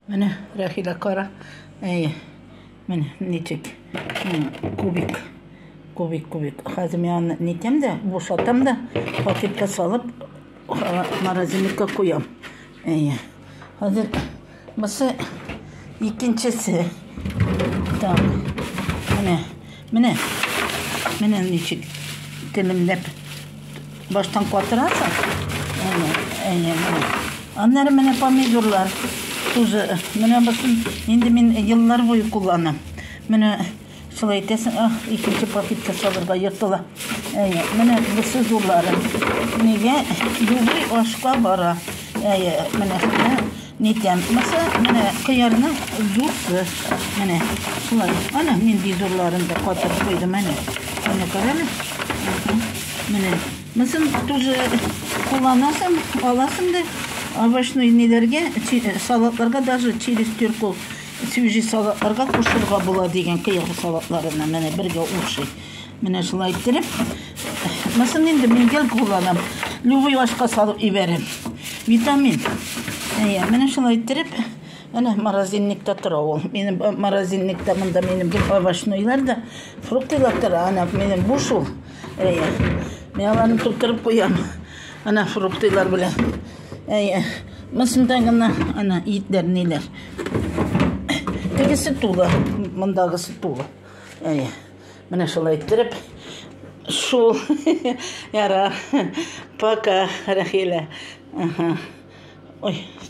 Менә, Рәхилә, кара. Әйе. Менә ничек. Кубик. Кубик, кубик. Хәзер мин аны нитәм дә, бушатам да, пакетка салып, морозильникка куям. Әйе. Хәзер бусы икенчесе. Так. Менә. Менә, менә ничек телемләп баштан катырасың. Әнә, әнә, әнә. Аннары менә помидорлар тузы. Менә бусын инде мин еллар буе кулланам. Менә шулай итәсең, ах, икенче пакетка салырга йотыла. Әйе, менә бусы зурлары. Нигә югый ашка бара. Әйе, менә Нидән булмаса, менә кыярның зурсы. Менә шулай. Ана нинди зурларын да катып куйдым, әнә. Менә күрәме? Менә. Мысын тоже кулланасың, аласың да овощной ниләргә, салатларга даже через тюркул свежий салатларга кушырга була дигән кыяр салатларына менә бергә ушый. Менә шулай иттереп, мысын инде мин гел кулланам. Любой ашка салып ибәрәм. Витамин. Әйе, менә шулай иттереп, менә морозильникта тора ул. Минем морозильникта монда минем бер овощнойлар да, фруктылар тора, ана минем буш ул. Әйе. Мин аларны тутырып куям. Ана фруктылар белән. Әйе. Мысында гына ана итләр ниләр. Тегесе тулы, мондагысы тулы. Әйе. Менә шулай иттереп шул яра. Пока, Рәхилә. Ой.